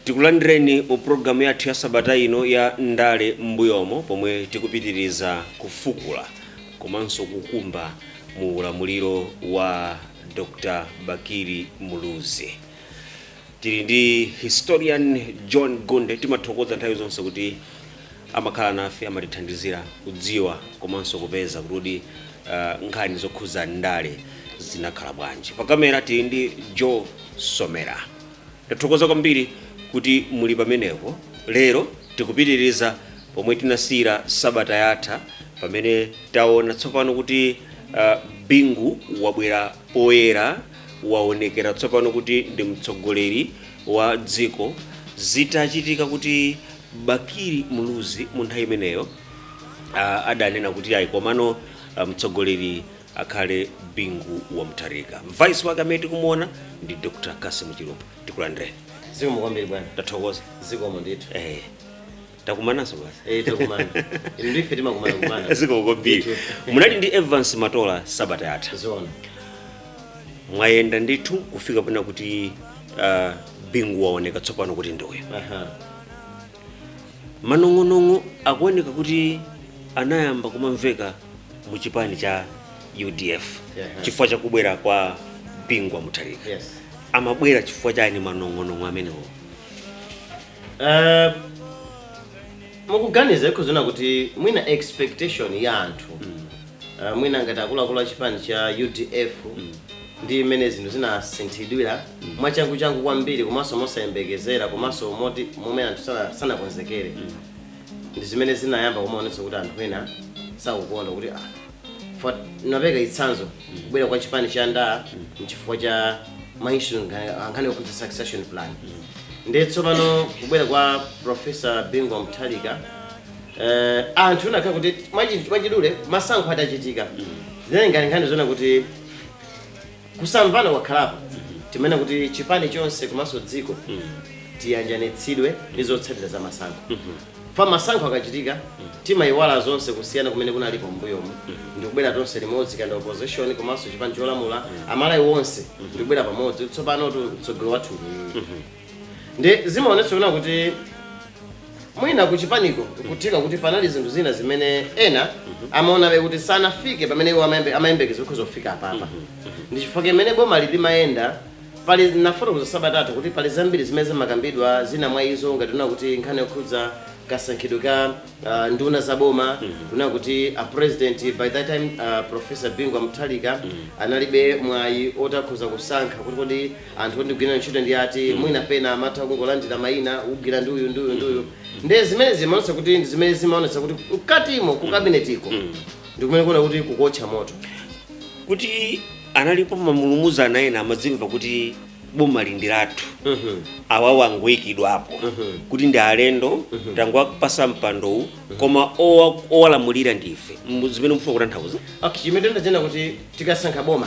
tikulandireni mu pulogalamu yathu ya sabata ino ya ndale m'mbuyomo pomwe tikupitiriza kufukula komanso kukumba mu ulamuliro wa dr bakili muluzi Tili ndi Historian John Gunde, timathokoza nthawi zonse kuti amakhala nafe, amatithandizira kudziwa komanso kupeza kuti kodi uh, nkhani zokhudza ndale zinakhala bwanji. Pa kamera tili ndi Joe Somera. Tathokoza kwambiri kuti muli pamenepo. Lero tikupitiriza pomwe tinasiyira sabata yatha pamene taona tsopano kuti uh, Bingu wabwera poyera waonekera tsopano kuti ndi mtsogoleri wa dziko zitachitika kuti Bakili Muluzi mu nthawi imeneyo ah, adanena kuti ayi komano ah, mtsogoleri akhale Bingu wa Mutharika. Vice wake amene tikumuona ndi Dr. Cassim Chilumpha. Tikulandireni. zikomo kwambiri bwana Tathokoza. zikomo ndithu Eh. takumananso basi Eh, takumana. Inu ndi ife timakumana kumana. zikomo kwambiri Ndithu. munali ndi evans matola sabata yatha Zoona. mwayenda ndithu kufika pena kuti uh, bingu waoneka tsopano kuti ndi uyo Aha. manong'onong'o akuoneka kuti anayamba kumamveka mu chipani cha udf Yeah. chifukwa cha kubwera kwa bingu wa mutharika Yes. amabwera chifukwa chani manong'onong'o amenewo Eh, mukuganiza nkuona kuti mwina expectation ya anthu eh, mwina ngati akuluakulu a chipani cha udf ndi mmene zinthu zinasinthidwira mwachanguchangu kwambiri komanso mosayembekezera komanso moti momwe anthu sana- sanakonzekere ndi zimene zinayamba kumaonetsa kuti anthu ena sakukonda kuti ah, for ndapereka chitsanzo kubwera kwa chipani cha NDA nchifukwa cha maishu ankhani okuti succession plan nde tsopano kubwera kwa profesa Bingu Mutharika eh, anthu inakhala kuti mwachi- mwachidule masankho atachitika zinali ngati nkhani zonena kuti Kusamvana kwakhalapo timanena kuti chipani chonse komanso dziko tiyanjanitsidwe ndi zotsatira za masankho chifukwa masankho akachitika timayiwala zonse kusiyana kumene kunalipo m'mbuyomu ndikubwera tonse limodzi kaya opposition komanso chipani cholamula amalawi onse ndikubwera pamodzi kuti tsopanotu mtsogoleri wathu ndi ndi zimaonetsa kunena kuti mwina kuchipaniko kutheka kuti panali zinthu zina zimene ena amaonabe kuti sanafike pamene iwo amayembe- amayembekeza kudzafika apapa ndi chifukwa chimene boma lili limayenda pali nafotokoza sabatatu kuti pali zambiri zimene zimakambidwa zina mwa izo ngati kunena kuti nkhani yokhudza kasankhidwe ka ah, nduna za boma kunena kuti a president by that time ah, professor Bingu wa Mutharika analibe mwayi otakhoza kusankha kuti kodi anthu ondigwira ntchito ndi ati mm. mwina pena amatha kungolandira mayina ugwira ndi uyu ndi uyu ndi uyu mm. nde zimene zimaonetsa kuti ndi zimene zimaonetsa kuti mkatimo ku kabinetiko mm. ndikumene kuona kuti kukotcha moto kuti analipo mamulumuzana ena ena amadzimva kuti boma lindilathu mm -hmm. awawo angoyikidwapo mm -hmm. kuti ndi alendo mm -hmm. tangowapasa mpandowu mm -hmm. koma owalamulira ndife zimene mufuna kutanthauza okay, chimene ndachena kuti tikasankha boma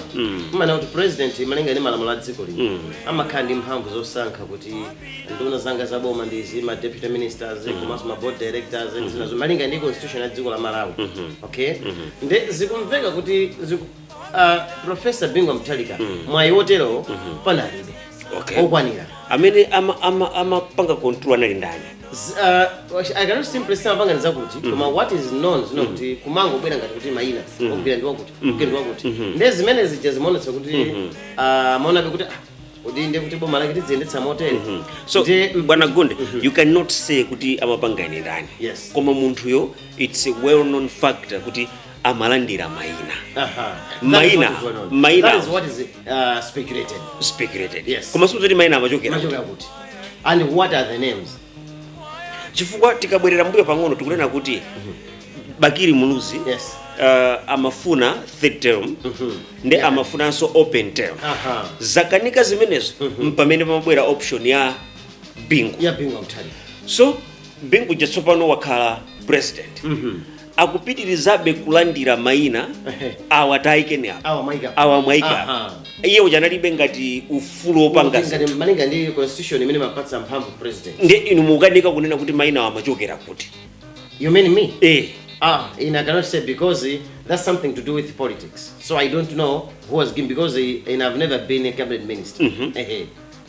mmanena kuti president malinga ndi malamulo a dziko lino amakhala ndi mphamvu zosankha kuti nduna zanga za boma ndi izi ma deputy ministers komanso ma board directors ndi zinazo malinga ndi constitution ya dziko la malawi okay nde zikumveka kuti ziku, uh, professor Bingu Mutharika mwayi woterowo panalibe Okay. okwanira amene amapanga ama, ama control anali ndani Z- uh, wash- I cannot simply say amapanga zakuti koma what is known zoti kuti kumangobwera ngati kuti mayina ugwira ndi wakuti ugwira ndi wakuti nde zimene zija zimaonetsa kuti ah, maonabe kuti ah, kodi nde kuti boma lake tiziyendetsa motere so Nde- bwana gonde you cannot say kuti amapanga ine ndani Yes. koma munthuyo it's a well known factor kuti amalandira mayina Aha. That is Mayina. what is well known. Mayina. That is what is uh, speculated. speculated Yes. koma osati maina amachokera Machokera kuti. And what are the names? chifukwa tikabwerera mbuyo pang'ono tikunena kuti Bakili Muluzi Yes. uh, amafuna third term ndi amafunanso open term Aha. zakanika zimenezo mpamene pamabwera option ya bingu Yeah, Bingu Mutharika. so bingu uja tsopano wakhala president akupitirizabe kulandira maina Ehe. awa tayikeni apa Awa mwaika. awa mwaika apa Aha. iye uja analibe ngati ufulu wopanga zinthu. Ngati malinga ndi constitution imene imapatsa mphamvu president. nde inu mukukanika kunena kuti maina awa amachokera kuti You mean me? eh Ah, in I cannot say because eh, that's something to do with politics. So I don't know who was given because eh, and I've never been a cabinet minister. Eh, eh.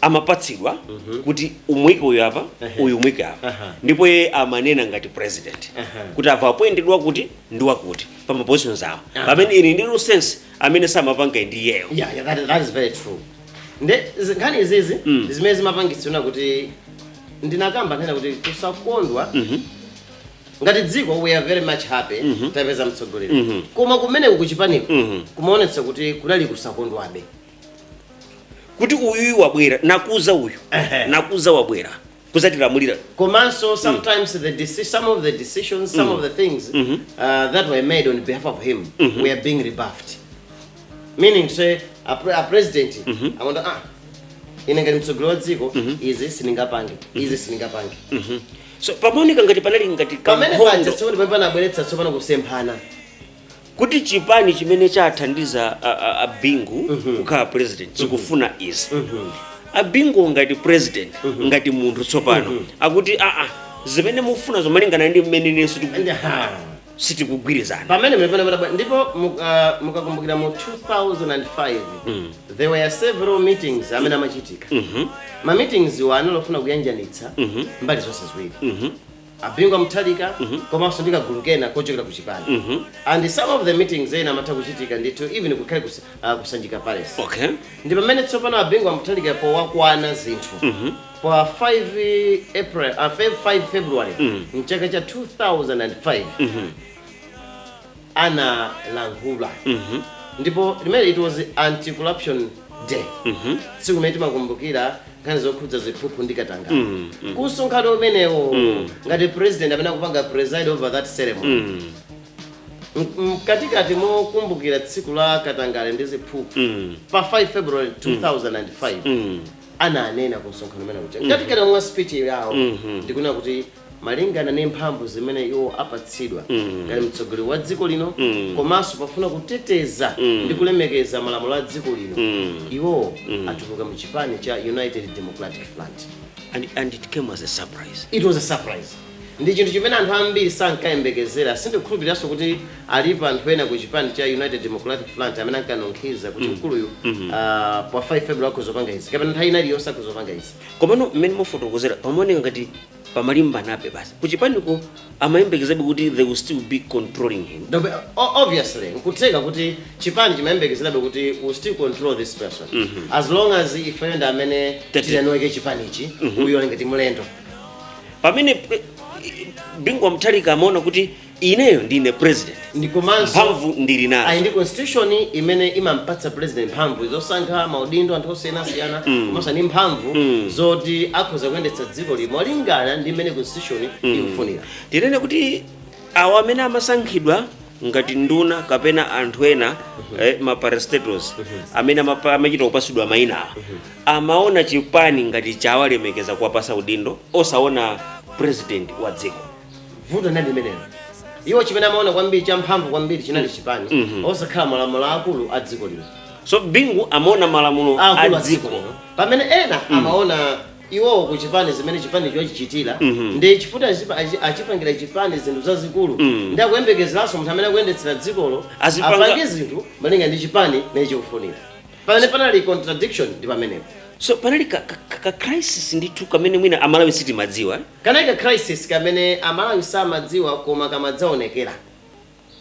amapatsidwa kuti umuike uyu apa uyu umuike apa Aha. ndipo iye amanena ngati president Aha. kuti awa apointedwa kuti ndi wakuti pa mapositions awo pamene in the real sense amene samapanga ndi iyeyo yeah, yeah, that, that is very true nde zi- nkhani izizi Mm. zimene zimapangitsira kuti ndinakamba nkhani kuti kusakondwa ngati dziko we are very much happy tapeza mtsogoleri koma kumene kukuchipaniko kumaonetsa kuti kunali kusakondwabe kuti uyuyu wabwera nakuza uyu Ehe. nakuza wabwera kuzatilamulira komanso sometimes the deci- some of the decisions some of the things uh, that were made on behalf of him were being rebuffed meaning to say a, pre a president amanena ah ine ngati mtsogoleri wa dziko izi sindingapange izi sindingapange so pamaoneka ngati panali ngati pamene kankhondo panja tsopano pamene panabweretsa tsopano kusemphana kuti chipani chimene chathandiza a- a- a bingu kukhala president chikufuna izi a bingu ngati president ngati munthu tsopano akuti aa zimene mufuna zomwe malingana ndi mmene nenso tiku- Aha. sitikugwirizana pamene mlipenda mtabwa ndipo muka- mukakumbukira mu 2005 there were several meetings amene amachitika ma meetings wo ofuna kuyanjanitsa mbali zonse ziwiri a Bingu wa Mutharika komanso ndi kagulu kena kochokera ku chipani and some of the meetings ena amatha kuchitika ndithu even kukhala kus, uh, kusanjika palace okay ndi pamene tsopano a Bingu wa Mutharika powakwana zinthu pa 5 april uh, 5 february mchaka cha 2005 analankhula ndipo limene it was anti corruption day tsiku limene timakumbukira nkhani zokhudza ziphuphu ndi katangale ku msonkhano umenewo ngati president amene akupanga preside over that ceremony M- mkatikati mokumbukira tsiku la katangale ndi ziphuphu pa 5 february 2005 ananena ku msonkhano umene uja mkatikati mwa speech yawo ndikunena kuti malingana ni mphamvu zimene iwo apatsidwa ngati mtsogoleri wa dziko lino komanso pofuna kuteteza ndi kulemekeza malamulo a dziko lino iwowo atuluka mu chipani cha united democratic front And, and it came as a surprise. it was a surprise ndi chinthu chimene anthu ambiri sankayembekezera sindikhulupiriranso kuti alipo anthu ena ku chipani cha united democratic front amene ankanunkhiza kuti mkuluyu ah, pa 5 february akuzopanga izi kapena nthawi ina iliyonse akuzopanga izi Komano mmene mukufotokozera pamaoneka ngati pamalimbanabe basi kuchipaniko amayembekezabe kuti they will still be controlling him Dobe- o- obviously n'kutheka kuti chipani chimayembekezerabe kuti we still control this person as long as ifeyo ndi amene Tete. tiyanoweke chipanichi uyo ngati mlendo pamene pre- bingu wa mutharika amaona kuti Ineyo ndine president ndi komanso mphamvu ndili nazo. Ali ndi constitution imene imampatsa president mphamvu zosankha maudindo anthu osiyanasiyana mm. komanso ndi mphamvu mm. zoti akhoza kuyendetsa dziko lino molingana ndi mmene constitution mm. ikufunira. Tinene kuti awo amene amasankhidwa ngati nduna kapena anthu ena uh mhm. -huh. eh, maparastatals uh mhm. -huh. amene amachita kupasidwa maina uh mhm. -huh. amaona chipani ngati chawalemekeza kuwapasa udindo osaona president wa dziko vuto ndi limenelo iwo chimene amaona kwambiri cha mphamvu kwambiri chinali chipani Mhm. osakhala malamulo akulu a dziko lino so bingu amaona malamulo a akulu a dziko dziko lino pamene ena amaona iwowo ku chipani zimene chipani chochichitira Mhm. ndi chifuta achipa- achi- achipangira chipani zinthu zazikulu Mhm. ndi akuyembekezeranso munthu amene akuyendetsera dzikolo Azipanga- apange zinthu malinga ndi chipani nacho chikufunira pamene panali contradiction ndi pamenepo so panali ka, ka, ka, ka crisis ndithu kamene mwina amalawi sitimadziwa eh? Kanali ka crisis kamene amalawi samadziwa koma kamadzaonekera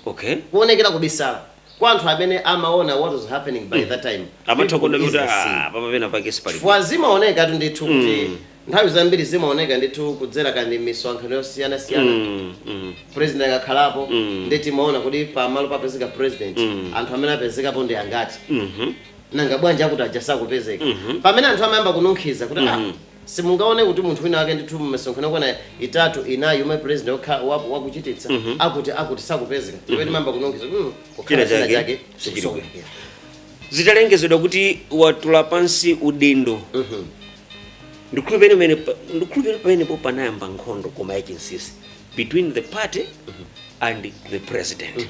ok kuonekera kubisala kwa anthu amene amaona what was happening by that time mm amatha kuona kuti aah apapa pena pake sipali bwino chifukwa zimaonekatu ndithu kuti mm nthawi zambiri zimaoneka ndithu kudzera kaya ndi mmisonkhano yosiyanasiyana mm mm president akakhalapo mm nde timaona kodi pamalo papezeka president mm anthu amene apezekapo ndi angati mm -hmm. nanga bwanji akuti aja sakupezeka mm -hmm. pamene anthu amayamba kununkhiza kuti mm -hmm. ah, Si mungaone kuti munthu wina wake ndithu mmisonkhano yokwana itatu, inayi yomwe president yekha wa wa kuchititsa akuti akuti sakupezeka ndipo timayamba kununkhiza kuti mm, kukhala china chake chikusokonekera. zitalengezedwa kuti watula pansi udindo ndikhulupirira pamene pa- ndikhulupirira pamenepo panayamba nkhondo koma yachinsisi between the party and the president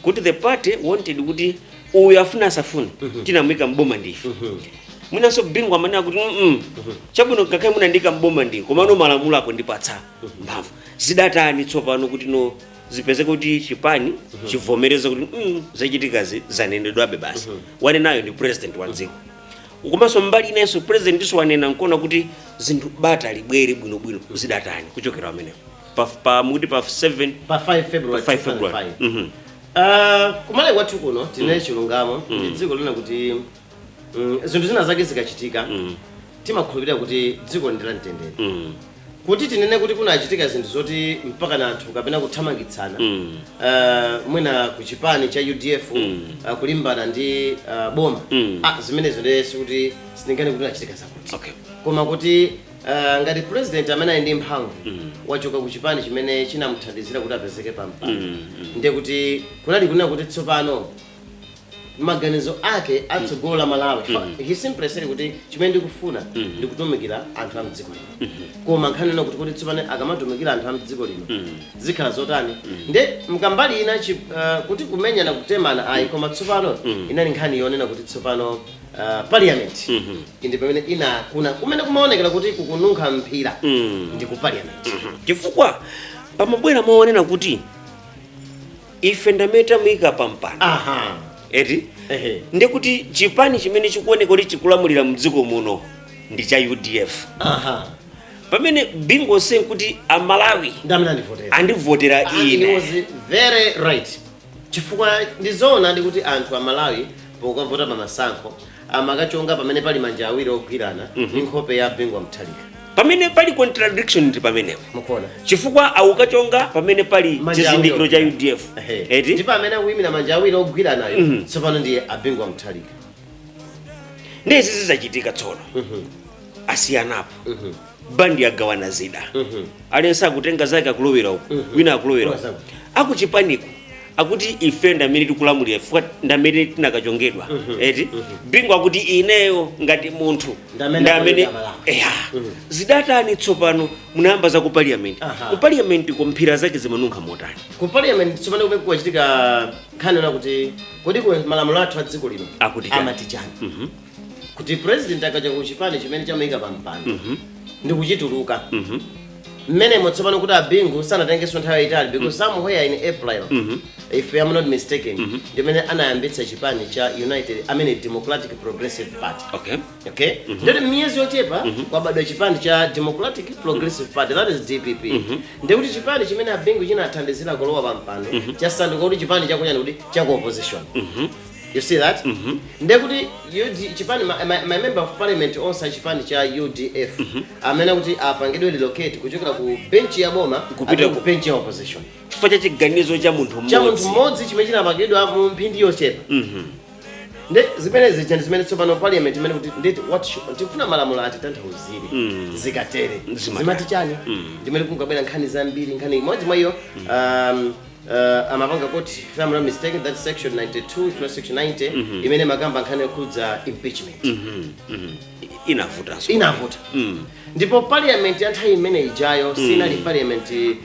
kuti the party wanted kuti uyu afuna asafune tinamuika mboma ndife mwinanso bingu amanena kuti mm chabwino ngakhale munandiika mboma ndi komano malamulo akundipatsa mphamvu zidatani tsopano kuti no zipezeke kuti chipani chivomereze kuti mm zachitikazi zanenedwabe basi wanenayo ndi president wa dziko komanso mbali inayinso president nso wanena nkuona kuti zinthu bata libwere bwinobwino zidatani kuchokera pamenepo pa, pa mukuti pa 7 pa 5 february Pa 5 February. 2005. Mhm. Ah, ku malawi kwathu kuno tinene chilungamo ndi dziko lonena kuti mm, zinthu zina zake zikachitika Mm. timakhulupirira kuti dzikoli ndi la mtendere Mm. kuti tinene kuti kunachitika zinthu zoti mpakana anthu kapena kuthamangitsana Mm. Ah, mwina ku chipani cha udf Mm. ah, kulimbana ndi ah, boma Mm. Ah, zimenezo ndiye sikuti sindinganene kuti kunachitika zakuti okay koma kuti Ah, ngati president amene ali ndi mphamvu Mm. wachoka ku chipani chimene chinamuthandizira kuti apezeke pa mpando Mm, mm. ndiye kuti kunali kunena kuti tsopano maganizo ake atsogolo la malawi Mm. he simply said kuti chimene ndikufuna Mm. ndikutumikira anthu a mdziko lino koma nkhani inali kuti kuti tsopano akamatumikira anthu a mdziko lino Mm. zikhala zotani nde nkumbali ina chi- ah, kuti kumenyana kutemana ayi koma tsopano Mm. inali nkhani yonena kuti tsopano ah, parliament Mhm. indi pamene inakula kumene kumaonekera kuti kukununkha mphira Mm. ndi ku parliament chifukwa pamabwera maonena kuti ife ndamene tamuyika pampando aha eti ehe ndikuti chipani chimene chikuoneka kuti chikulamulira mdziko muno ndi cha udf aha pamene Bingu saying kuti amalawi ndamene andivotera andivotera Ah, ine was very right Chifukwa ndi zoonadi kuti anthu a Malawi pokavota pa masankho amakachonga pamene pali manja awiri ogwirana mm -hmm. ndi nkhope ya Bingu wa Mutharika. Pamene pali contradiction ndi pamenepo. Mukuona? Chifukwa ukachonga pamene pali chizindikiro cha UDF. Eti? Ndipo amene akuimira manja awiri ogwiranawo mm -hmm. tsopano ndiye a Bingu wa Mutharika. Ndiye izi zachitika tsono. Mhm. Mm asiyanapo. Mhm. Mm bandi yagawana zida aliyense akutenga zake akulowera uko wina akulowera uku akuchipaniko akuti ife ndamene tikulamulira chifukwa ndamene tinakachongedwa eti bingu akuti ineyo ngati munthu Ndamene ndamene ndamene ndalamula. eya zidatani tsopano munayamba za ku parliament Aha. ku parliament ko mphira zake zimanunkha motani ku parliament tsopano kumene kukachitika nkhani yonena kuti kodi ku malamulo athu a dziko lino Akuti chani? amati chani kuti president akachoka ku chipani chimene chamuika pa mpando ndi kuchituluka mmenemo tsopano kuti abingu sanatengenso nthawi yayitali because somewhere in april if I'm not mistaken ndimene anayambitsa chipani cha united i mean democratic progressive party okay okay ndiye miyezi yochepa kwabadwa chipani cha democratic progressive party that is dpp ndikuti chipani chimene abingu chinathandizira kulowa pa mpando chasanduka kuti chipani chakuujeni kuti cha ku opposition you see that ndiye kuti UD chipani ma, ma, ma member of parliament onse a chipani cha udf amene kuti apangidwe relocate kuchokera ku benchi ya boma Kupita apite ku- ku benchi ya opposition chifukwa cha chiganizo cha munthu cha munthu mmodzi mmodzi chimene chinapangidwa mu mphindi yochepa Mhm. ndi zimene zija ndi zimene tsopano parliament imanena kuti nditi what should- tikufuna malamulo atitanthauzire Mm. zikatere Zimata. zimati chani Mm. ndimene kunabwera nkhani zambiri nkhani imodzi mwa iyo um, uh, amapanga court if I'm not mistaken that section 92 if not section 90 imene makamba nkhani yokhudza impeachment Mhm, mhm. I- inavutanso inavuta Mm. ndipo parliament ya nthawi imene ijayo sinali parliament eh,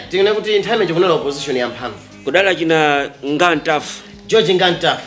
tinene kuti nthawi imene kunali opposition ya mphamvu kudala achina Nga Ntafu George Nga Ntafu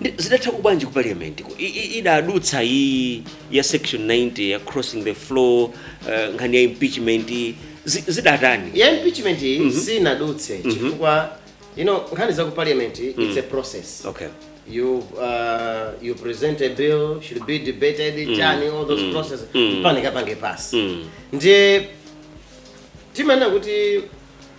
Ndi- zidatha kubwanji ku parliament ku I- i- idadutsa iyi ya section 90 ya crossing the floor eh, nkhani ya impeachment zi- zidatani ya impeachment iyi sinadutse chifukwa you know nkhani za ku parliament it's a process okay you uh, you present a bill should be debated chani all those processes mpaka ipange pass ndiye timanena kuti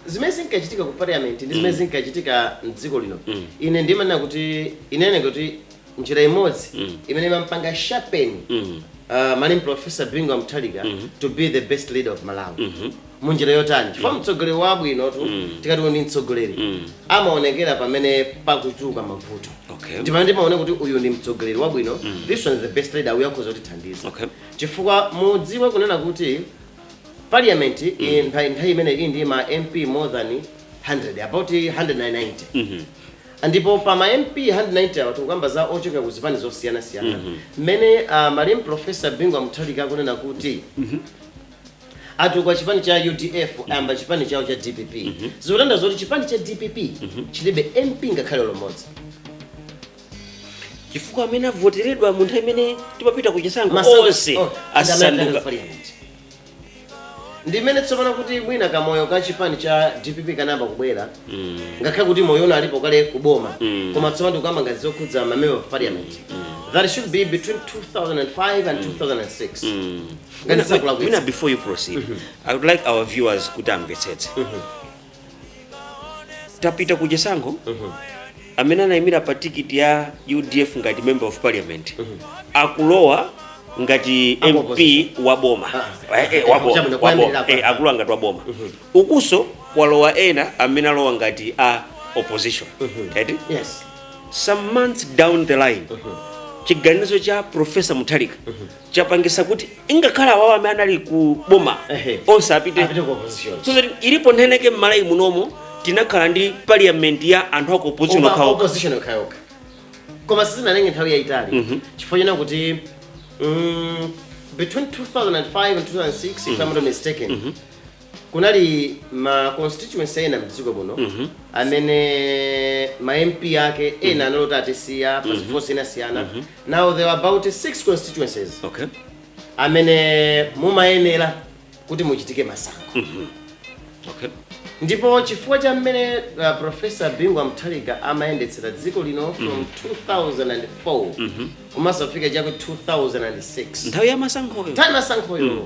zimene zinkachitika ku parliament ndi zimene zinkachitika m'dziko lino Mm. ine ndimanena kuti inene kuti njira imodzi Mm. imene inampanga sharpen Mm. uh, malemu professor Bingu Mutharika Mhm. to be the best leader of malawi Mhm. munjira yotani chifukwa mtsogoleri wabwinotu Mm. tikati uyu ndi mtsogoleri Mm. amaonekera pamene pakuchuluka mavuto Okay. ndi pamene timaonera kuti uyu ndi mtsogoleri wabwino this one is the best leader uyu akhoza kutithandiza Okay. chifukwa mudziwe kunena kuti Parliament i- nthawi imene ili ndi ma MP more than 100 about 190 Mhm. ndipo pa ma MP 190 awa tikukamba za ochokera ku zipani zosiyanasiyana mmene uh, malemu professor Bingu Mutharika akunena kuti atuluka chipani cha udf ayamba chipani chawo cha dpp zikutanthauza kuti chipani cha dpp chilibe mp ngakhale lomodzi chifukwa amene avoteredwa mu nthawi imene timapita ku chisankho Masankho- onse oh, asanduka ndi mmene tsopano kuti mwina kamoyo ka chipani cha dpp kanayamba kubwera ngakhale kuti moyo unalipo kale kuboma koma tsopano tikukamba ngati zokhudza mamember of parliament that should be between 2005 and 2006 ngati sindikulakwitsa Mina, before you proceed i would like our viewers kuti amvetsetse tapita ku chisankho amene anayimira pa tikiti ya udf ngati member of parliament akulowa ngati Aku mp opposition. wa boma Ah, Eh, eh, wa boma, chabwino, wa boma. kuyambirira Eh, apa. akulowa ngati wa boma ukunso kwalowa ena amene alowa ngati a opposition eti yes some months down the line chiganizo cha profesa mutharika chapangisa kuti ngakhale awawa amene anali ku boma Ehe. onse apite Apite ku opposition. so that ilipo nthawi yake m'Malawi munomo tinakhala ndi parliament ya anthu aku opposition Koma okhawo opposition okhaokha koma sizinatenge nthawi yayitali chifukwa chonena kuti mm, between 2005 and 2006 if i'm not mistaken Kunali ma constituency ena m'dziko muno amene ma MP ake ena anali oti atisiya pa zifukwa zosiyanasiyana. Now there were about six constituencies Okay. amene mumayenera kuti muchitike masankho. Okay. ndipo chifukwa cha mmene uh, profesa bingu wa mutharika amayendetsera dziko lino from 2004 kumadzafika chaku 2006 Nthawi ya masankhoyo. nthawi ya masankhoyo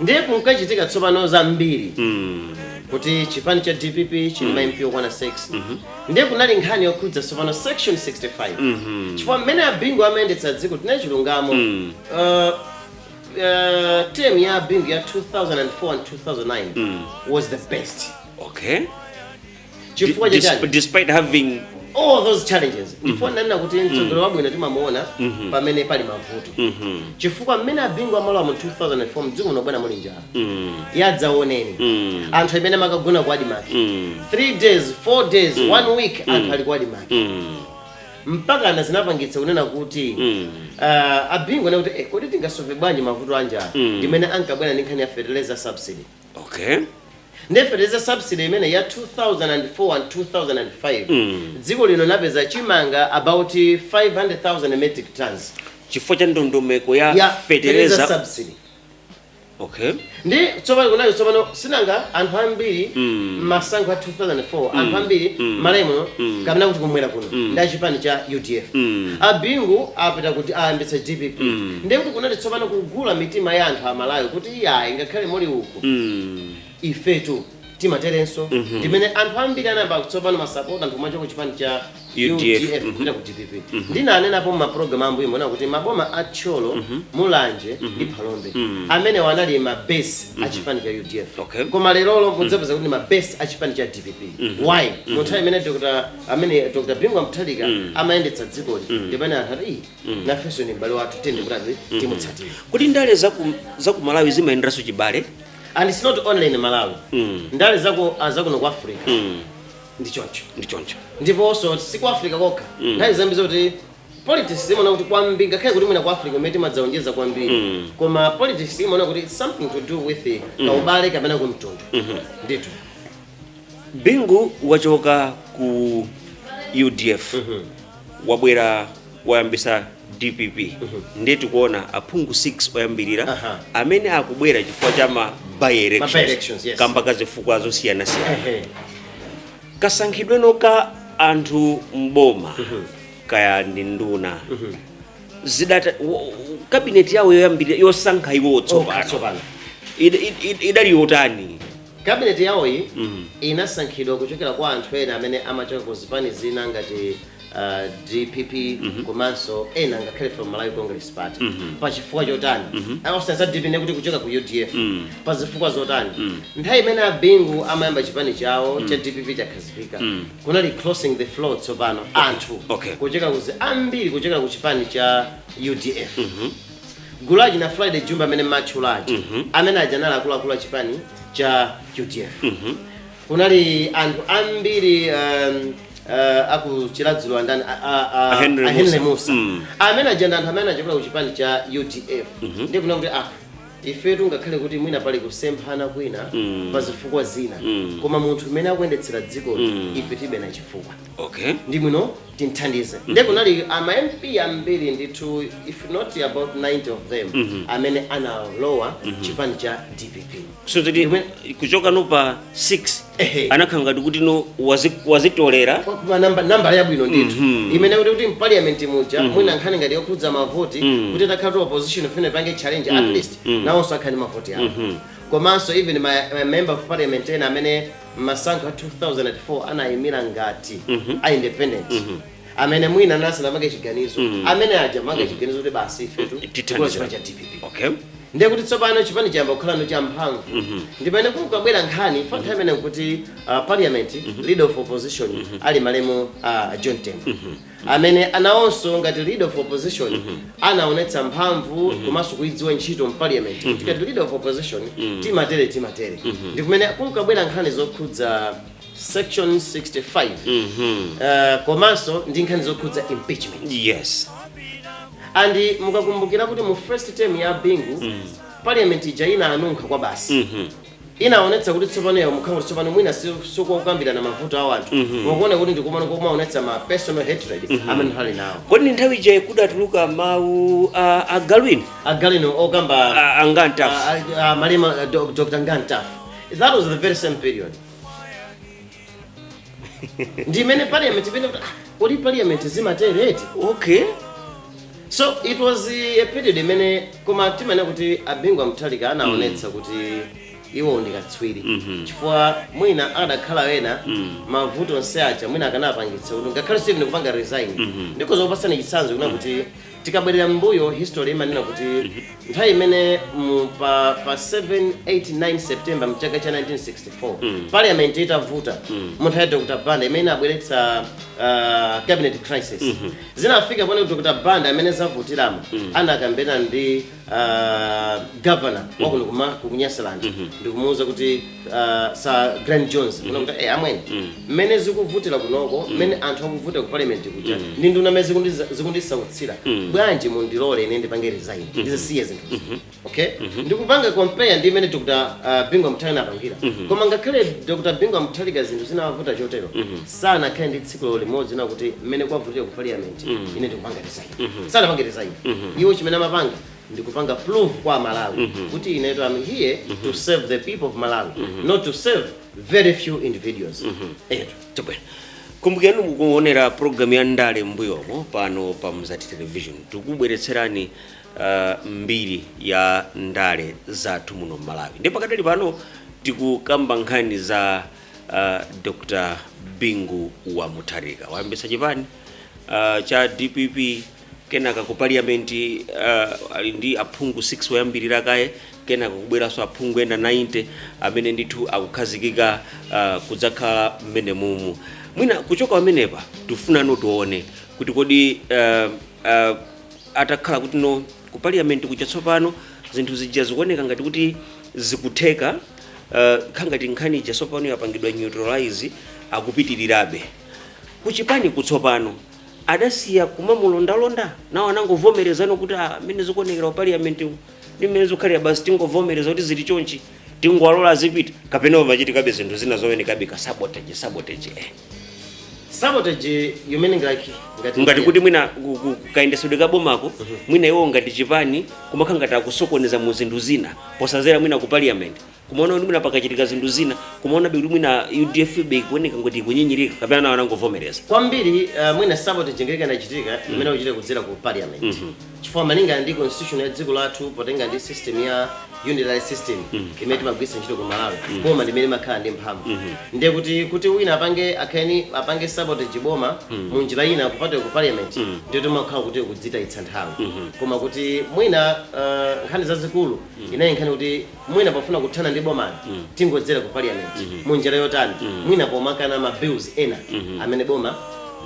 ndiye kunkachitika tsopano zambiri Mm. kuti chipani cha dpp chili ndi ma mp okwana 6 ndiye kunali nkhani yokhudza tsopano section 65 Mhm. chifukwa mmene abingu amayendetsera dziko tinene chilungamo Mm. Uh, uh, term ya abingu ya 2004 and 2009 Mm. was the best Okay. chifukwa cha chani despite having all those challenges ndipo ndinanena kuti mtsogoleri wabwino timamuona pamene pali mavuto Mhm. chifukwa mmene abingu amalowa mu 2004 mdziko muno bwana muli njala Mm. yadzaoneni Mm. anthu amene amakagona ku admarc Mm. 3 days 4 days 1 week anthu ali ku admarc Mm. mpaka ana zinapangitsa kunena kuti Mm. ah, abingu anena kuti eh, kodi tingasolve bwanji mavuto anjala Mm. ndimene ankabwera ndi nkhani ya fertilizer subsidy okay Nde fertilizer subsidy imeneyi ya 2004 and 2005 dziko lino linapeza chimanga about 500,000 metric tons chifukwa cha ndondomeko ya ya fertilizer subsidy okay ndi tsopano kunayo tsopano sinanga anthu ambiri masankho a 2004 anthu ambiri Malawi muno kapena kuti kumwera kuno ndi achipani cha udf abingu apita kuti ayambitse dpp ndiye kuti kunati tsopano kugula mitima ya anthu a Malawi kuti iyayi ngakhale muli uku ifetu timaterenso ndimene anthu ambiri anayamba tsopano masapota anthu kumachoka ku chipani cha UDF, UDF kupita ku dpp ndinanenapo mmaprogram ambuyomo kuti maboma a thyolo mulanje ndi phalombe amenewo anali mabase a chipani cha udf Okay. koma lerolo mudzapeza kuti mabase a chipani cha dpp why munthawi imene dr amene dr bingu wa mutharika amayendetsa dziko lino ndipamene anthu ati "Ih, nafenso ni m'bale wathu tiyeni titani timutsatire kuti ndale za ku- za ku malawi zimayenderanso chibale and it's not only in malawi Mm. ndale zako azakuno ku africa Mm, ndi choncho ndi choncho ndiponso si ku africa kokha nthawi zambiri zoti politics imaona kuti kwambiri ngakhale kuti mwina ku africa ndimene timadzaonjeza kwambiri Mm. koma politics imaona kuti it's something to do with kaubale kapena kumtundu ndithu bingu wachoka ku udf wabwera wayambisa dpp ndiye tikuona aphungu 6 oyambirira Aha. amene akubwera chifukwa cha ma by By-elections, elections yes. kamba ka zifukwa zosiyanasiyana Ehe. kasankhidwe no ka anthu mboma kaya ndi nduna zidata wo- kabineti yawo yoyambirira yosankha iwo Oka, tsopano tsopano. Id- id- id- idali yotani Kabineti yawoyi inasankhidwa kuchokera kwa anthu ena amene amachoka ku zipani zina ngati dpp komanso ena ngakhale from Malawi Congress Party. Pa chifukwa chotani? Ah osati za dpp ndiye kuti kuchoka ku udf. Pa zifukwa zotani? Nthawi imene a Bingu amayamba chipani chawo cha dpp chakhazikika kunali crossing the floor tsopano anthu Okay. kuchoka ku zi- ambiri kuchokera ku chipani cha udf. Gulu la achina Friday Jumbe amene mmawatchula aja Mhm. amene aja anali akuluakulu a chipani cha UDF Mhm. kunali anthu ambiri um, uh, aku Chiradzulu andani a- a- a- A Henry a Mussa. Mussa Mm. amene aja ndi anthu amene achokera ku chipani cha UDF ndiye kunena kuti ah ifetu ngakhale kuti mwina pali kusemphana kwina Mm. pa zifukwa zina Mm. koma munthu umene akuyendetsera dziko Mm. ife tilibe naye chifukwa Okay. ndi bwino timthandize nde kunali ama mp ambiri ndithu if not about 90 of them amene analowa chipani cha dpp so kuti Ndimwe- kuchoka no pa 6 Ehe. anakhala ngati kuti no wazi- wazitolera Kwa namba namba yabwino ndithu imene kuti kuti mparliament muja mwina nkhani ngati yokhudza mavoti kuti itakhala kuti opposition ifuna ipange challenge at least nawonso akhale ndi mavoti awo komanso even ma ma member of parliament ena amene mmasankho a 2004 anayimira ngati a independent amene mwina anali asanamange chiganizo amene aja anamanga chiganizo kuti basi ifetu Tithandize. tikulowa chipani cha dpp okay ndiye kuti tsopano chipani chinayamba kukhala no champhamvu ndi pamene kunkabwera nkhani pa nthawi imene kuti uh, parliament leader of opposition ali malemu uh, john tembo amene nawonso ngati leader of opposition anaonetsa mphamvu komanso kuidziwa ntchito mparliament kuti ngati leader of opposition timatere timatere ndi kumene kunkabwera nkhani zokhudza section 65 uh, komanso ndi nkhani zokhudza impeachment yes and mukakumbukira kuti mu first term ya bingu parliament ija inanunkha kwabasi Inaonetsa kuti tsopano yangokhala ngati tsopano mwina si- siyokakambirana mavuto a wanthu koma kuoneka kuti ndikumangokaonetsa ma personal hatred amene ali nawo kodi ndi nthawi ija kudatuluka mawu a agalu inu agalu inu okamba a- a Nga Mtafu Ah, ah, ah, malemu ah, Doc- dr Nga Mtafu that was the very same period ndi imene parliament imene kuti ah, kodi parliament zimatere eti okay so it was a period imene koma timaona kuti a Bingu wa Mutharika anaonetsa kuti iwo ndi katswiri chifukwa mwina adakakhala ena mavuto onse aja mwina akanapangitsa kuti ngakhale steven kupanga resign ndikoza kukupatsani chitsanzo kunena kuti Tikabwerera mmbuyo history imanena kuti nthawi imene mu pa pa 7 8 9 September mchaka cha 1964 parliament itavuta mu nthawi ya Dr. Banda imene inabweretsa ah, cabinet crisis zinafika poti Dr. Banda mmene zavutiramo anakambirana ndi uh, governor wakuno ku ma ku ku Nyasaland ndikumuwuza kuti uh, Sir Glyn Jones kunena kuti eh, amwene mmene zikuvutira kunoko mmene anthu akuvutira ku parliament kuja ndi nduna mmene zikundi- zikundisautsira bwanji mundilole ine ndipange resign ndizisiye zinthu okay ndikupanga compare ndi mmene dr uh, Bingu Mutharika anapangira koma ngakhale dr Bingu Mutharika zinthu zinawavuta chotero sanakhale ndi tsiku limodzi kunena kuti mmene kwavutira ku parliament ine ndikupanga resign sanapange resign iwo chimene amapanga ndi kupanga prove kwa a Malawi kuti inetu I'm here to serve the people of malawi not to serve very few individuals etu Tabwera. kumbukirani mukuonera programu ya ndale mbuyomo pano pa mzati television tikubweretserani uh, mbiri ya ndale zathu muno mmalawi ndi pakadali pano tikukamba nkhani za uh, dr bingu wa mutharika wayambitsa chipani uh, cha dpp kenaka ku parliament uh, ali ndi aphungu 6 oyambirira kaye kenaka kubweranso aphungu ena 90 amene ndithu akukhazikika uh, kudzakhala mmenemumu mwina kuchoka pamenepa tifunano tione kuti kodi uh, uh, atakhala kuti no ku parliament kucha tsopano zinthu zija zikuoneka ngati kuti zikutheka uh, kukhala ngati nkhani ija tsopano yapangidwa neutralize akupitirirabe kuchipaniku tsopano adasiya kumamulondalonda nawo anangovomerezano kuti "Ah, mmene zikuonekera ku parliament umu, ndi mmene zikukhalira basi tingovomereza kuti zili chonchi tingowalola azipita kapena pamachitika be zinthu zina zoonekabe ka sabotage sabotage eh. sabotage you mean like ngati ngati kuti mwina ku- ku- kayendesedwe ka bomako mwina iwo ngati chipani kumakhala ngati akusokoneza mu zinthu zina podzera mwina ku parliament kumaona kuti mwina pakachitika zinthu zina kumaonabe kuti mwina udf be ikuoneka ngati ikunyinyirika kapena nawo anangovomereza kwambiri uh, mwina sabotage ngeka inachitika imene imachitika kudzera ku parliament chifukwa malinga ndi constitution ya dziko lathu potenga ndi system ya unitary system imene timagwiritsa ntchito ku malawi boma limene limakhala ndi mphamvu ndiye kuti kuti wina apange akhani apange sabotage boma mu njira ina kupatula ku parliament ndiye timakhala kuti kudzitayitsa nthawi koma kuti mwina uh, nkhani zazikulu inali nkhani kuti mwina pofuna kuthana ndi bomali tingodzera ku parliament mu njira yotani mwina pomakana ma bills ena amene boma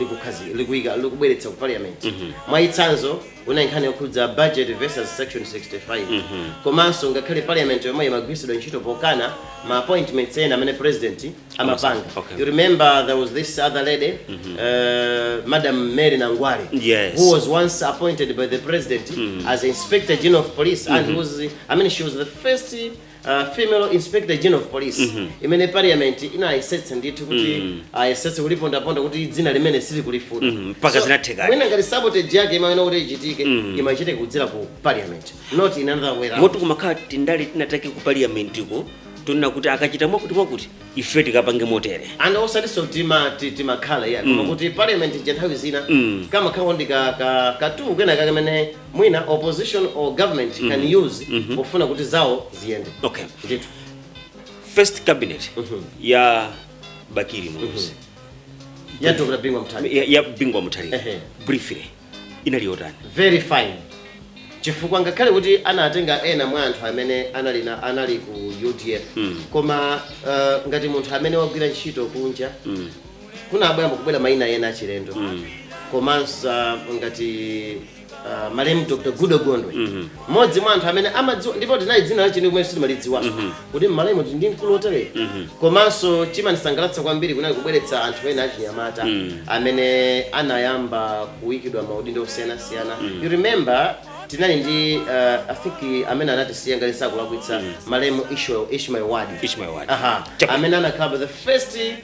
likukhazi likuika likubweretsa ku parliament mwachitsanzo kunali nkhani yokhudza budget versus section 65 komanso ngakhale parliament yomweyo imagwiritsidwa ntchito pokana ma appointments ena amene president amapanga Okay. you remember there was this other lady uh, madam mary nangwale Yes. who was once appointed by the president as inspector general of police and who was i mean she was the first uh, female inspector general of police imene parliament inayesetsa ndithu kuti ayesetse kulipondaponda kuti dzina limeneli sakulifuna Mhm, mpaka zinathekadi. mwina ngati sabotage yake imaona kuti ichitike imachitike kudzera ku parliament not in another way round. moti kumakhala tindale tinatake ku parliamentiko tonena kuti akachita mwakuti mwakuti ife tikapange motere and osatiso tima ti- timakhala ya koma kuti parliament ija nthawi zina Mm. kamakhala ndi ka- ka- ka tool kena kake kamene mwina opposition or government can use pofuna kuti zawo ziyende okay ndithu first cabinet Mhm. ya bakili muluzi ya dr bingu mutharika, ya bingu wa mutharika Ehe. briefly inaliyo yotani? very fine chifukwa ngakhale kuti anatenga ena mwa anthu amene anali na anali ku udf Mm. koma uh, ngati munthu amene wagwira ntchito kunja Mm. kunabwera kubwera maina ena achilendo Mm. komanso uh, ngati uh, malemu dr goodall gondwe Mhm. Mmodzi mwa anthu amene amadziwa ndipo tinali dzina lache sitimalidziwa mm -hmm. kuti m'Malawi tili ndi mkulu wotere mm -hmm. komanso chimanisangalatsa kwambiri kunali kubweretsa anthu ena achinyamata mm -hmm. amene anayamba kuikidwa maudindo osiyanasiyana mm -hmm. you remember tinali ndi uh, I think amene anatisiya ngati sinkulakwitsa mm. malemu Ishmael Wadi amene anakhala the first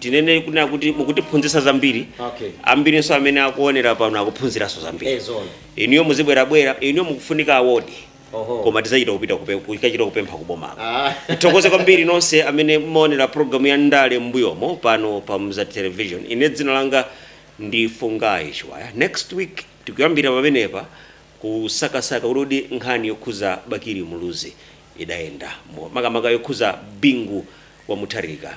tinene kunena kuti mukutiphunzitsa zambiri Okay. ambirinso amene akuonera pano akuphunziranso zambiri Eh, zoona. inuyo muzibwerabwera inuyo mukufunika award Oho. koma tizachita kupita kupe- kukachita kupempha kubomako Ah. tithokoze kwambiri nonse amene mmaonera programu ya ndale mbuyomo pano pa mzati television ine dzina langa ndi fungayi chiwaya next week tikuyambira pamenepa kusakasaka kuti nkhani yokhuza bakiri muluzi idayenda Mo- makamaka yokhuza bingu wa mutharika